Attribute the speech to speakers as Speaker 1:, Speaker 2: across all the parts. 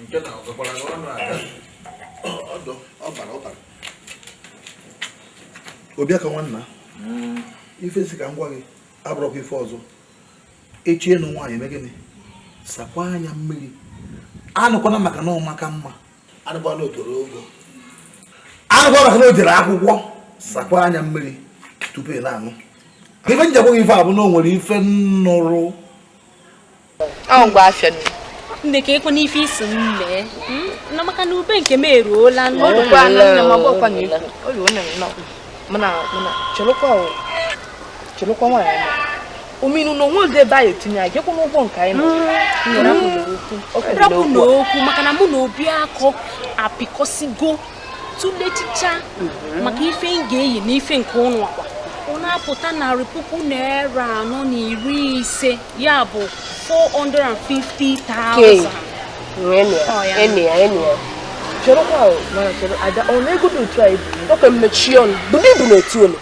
Speaker 1: nke na ọzọkwara gị ọnụ ala ọdụ ọbara ọbara obiakọ nwanna ife sị ka m gwa gị abụrọkwa ife ọzọ ị chọọ ịnụ nwaanyị i mee gịnị sakwa anya mmiri anụkwana maka na ọ maka mma anụkwana o toro ogo anụkwana maka na o jere akwụkwọ sakwa anya mmiri tupu ị na-anụ ife m ji agwa gị ife a bụ na o nwere ife m
Speaker 2: nụrụ ahụ mgbe afịa nne nne ka
Speaker 3: ekwe n'ife isi m mee hmm? na maka na ube nke m
Speaker 2: eruola cherekwa nwaanyị ominu na onwe ebe anyị etinye anyị jekwa n'ụgwọ nke
Speaker 3: anyị rapụ na okwu maka na mụ na obiakọ apịkọsigo tụlechicha mhm. maka ife m ga-eyi na ife nke ụnụ akwa ọ na-apụta narị puku naira anọ na iri ise ya bụ 450,000
Speaker 2: cherekwa ọ na-egodo otu anyị bụ mechie ọnụ bụrụ ibu na otu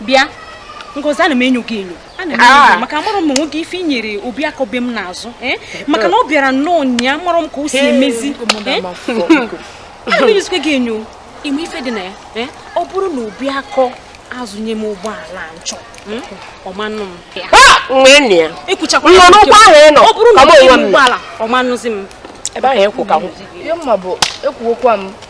Speaker 3: bịa ngozi ana m enyo gị enyo ana m enyo ah. maka amarọ m ma o nwere ife i nyere obiakọ be m n'azụ eh? maka na ọ bịara nnọọ nya amarọ m ka o si emezi eh? ana m enyozikwa gị enyo ị ma ife dị na ya eh? ọ bụrụ na obiakọ azụnye m ụgbọala m chọ hmm? ọmanụ m ah! ekwuchakwa ọ bụrụ na ụgbọala ọmanụzi m ebe ahụ ekwu ka
Speaker 2: m ihe mma bụ ekwuokwa m